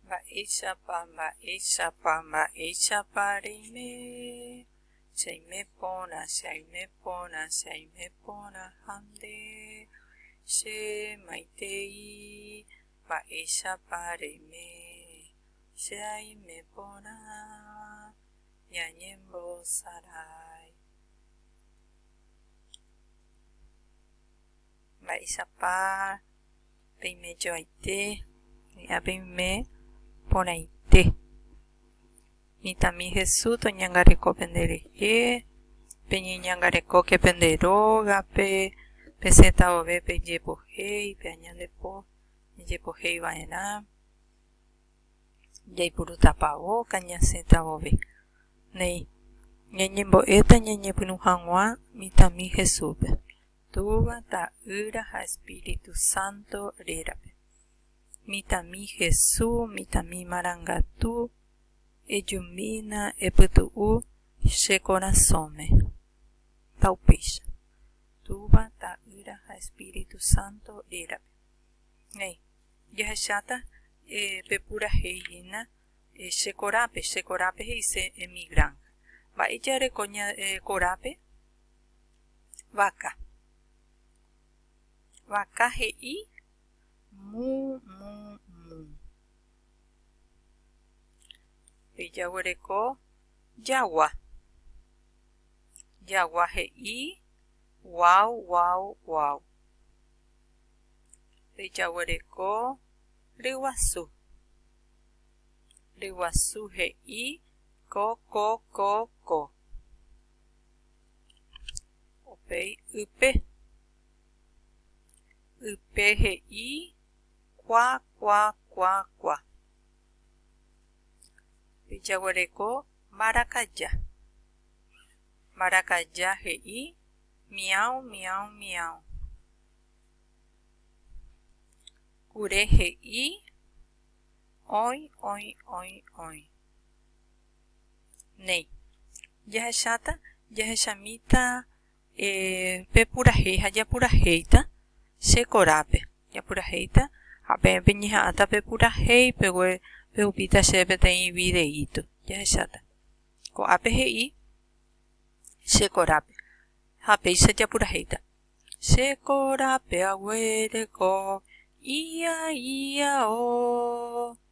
Mba'éichapa, mba'éichapa, mba'éichapa reime, che aime porã, che aime porã, che aime porã ha nde che maitei, mba'éichapa reime, che aime porã ñañembosarái. Mba'éichapa peimejoaite hi'a peime porãite. Mitãmi Jesús toñangareko penderehe, peñeñangarekóke pende rógape, pesẽta vove pejepohéi, pe añandepo ejepohéi va'erã, jaipurútapa óga ñasẽta vove. Néi, ñañembo'éta ñañepyrũ hag̃ua mitãmi Jesúspe. Túva, Ta'ýra ha Espíritu Santo rérape. Mitãmi Hesu, mitãmi marangatu, ejumbína, epytu'u che korasõme. Ha upéicha. Túva, Ta'ýra ha Espíritu Santo rérape. Néi, jahecháta pe purahéi hína che korápe, che korápe he'ise en mi granja. Mba'e jareko ñande korápe? Vaka. Vaka he'i mu mu mu. Pejaguereko jagua. Jagua he'i guau guau guau. Pejaguereko ryguasu. Ryguasu he'i ko ko ko ko. Upéi ype. Ype he'i kua kua kua kua. Pe jaguereko marakaja. Marakaja he'i miau miau miau. Kure he'i oĩ oĩ oĩ oĩ. Néi. Jahecháta, jahechamíta pe purahéi ha japurahéita che korápe. Japurahéita ha peẽpe ñeha'ãta pe purahéi, pegue pehupíta chéve peteĩ videíto, jahecháta. Ko'ápe he'i che korápe ha péicha japurahéita. Che korápe aguereko, ia ia o.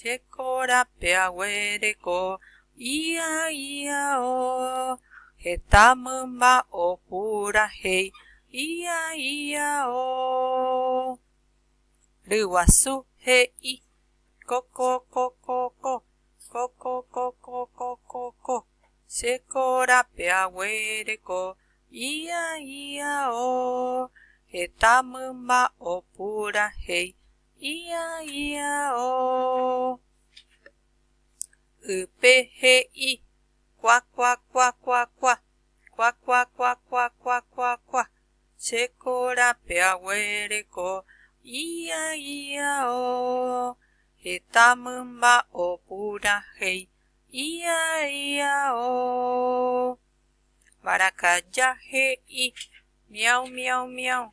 Jeko rape aguereko ia iao. Heta mymba opurahéi ia iao. Ryguasu he'i, Kokokokoko, kokokokokokoko. Jeko rape aguereko ia iao. Heta mymba opurahéi Ia, ia, oh. Ype he'i, kua, kua, kua, kua, kua, kua, kua, kua, kua, kua, kua, kua, che korape aguereko, ia, ia, oh. Heta mymba opurahéi, ia, ia, oh. Mbarakaja he'i, miau, miau, miau.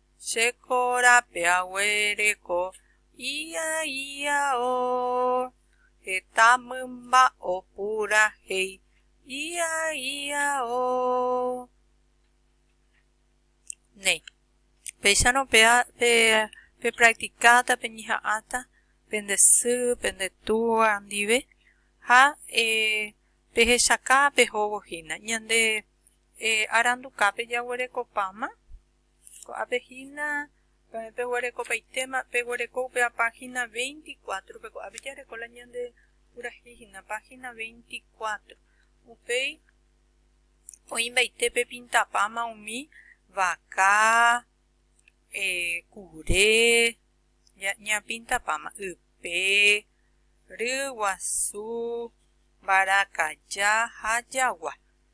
Che korapy aguereko ia ia o. Heta mymba opurahéi ia ia o. Néi. Péicharõ pe pepraktikáta, peñeha'ãta pende sy, pende túa ndive ha pehechaka pehóvo hína ñande arandukápe jaguerekopáma. Ko'ápe hína peẽ peguerekopaitéma, peguereko upéva página 24-pe, ko'ápe jareko la ñande purahéi hína, página 24. Upéi oĩmbaite pepintapáma umi vaka, kure, ñapintapáma ype, ryguasu, mbarakaja ha jagua.